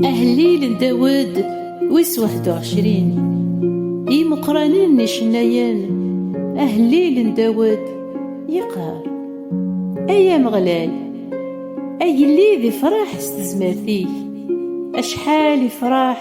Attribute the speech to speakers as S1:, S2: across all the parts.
S1: Ahellil n Dawed wis waḥed u ɛecrin I yimeqqranen n icennayen Ahellil n Dawed yeqqar Ay Ameɣlal agellid ifraḥ s tezmert-ik acḥal ifraḥ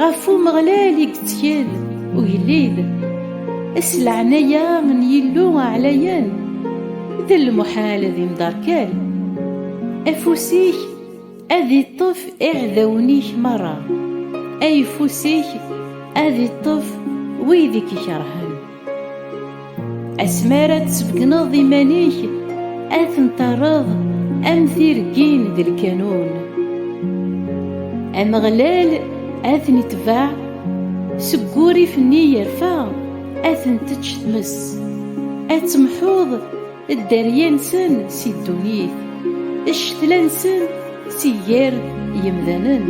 S1: Ɣef Umeɣlal i yettkel ugellid, s leɛnaya n Yillu aɛlayan, d lmuḥal ad imderkal. Afus-ik ad iṭṭef iɛdawen-ik merra, ayeffus-ik ad iṭṭef wid i k-ikerhen. Asmi ara tsebgneḍ iman-ik, ad ten-terreḍ am tirgin d lkanun. Ameɣlal ad ten-itbeɛ, seg wurrif-nni yerfa ad ten-tečč tmes, ad temḥuḍ Dderya-nsen si ddunit, ccetla-nsen si gar yemdanen.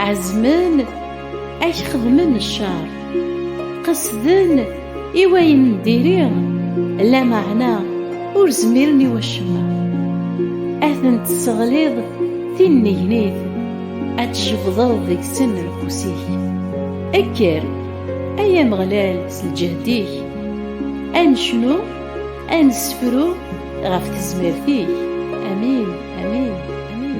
S1: Ɛezmen ad k-xedmen ccer, qesden i wayen n diri, lameɛna ur zmiren i wacemma. Ad ten-tesseɣliḍ tinnegnit, ad tjebdeḍ deg-sen lqus-ik. Kker, ay Ameɣlal, s lǧehd-ik, ad necnu. Ad nessefru ɣef tezmert-ik. Amin, amin, amin.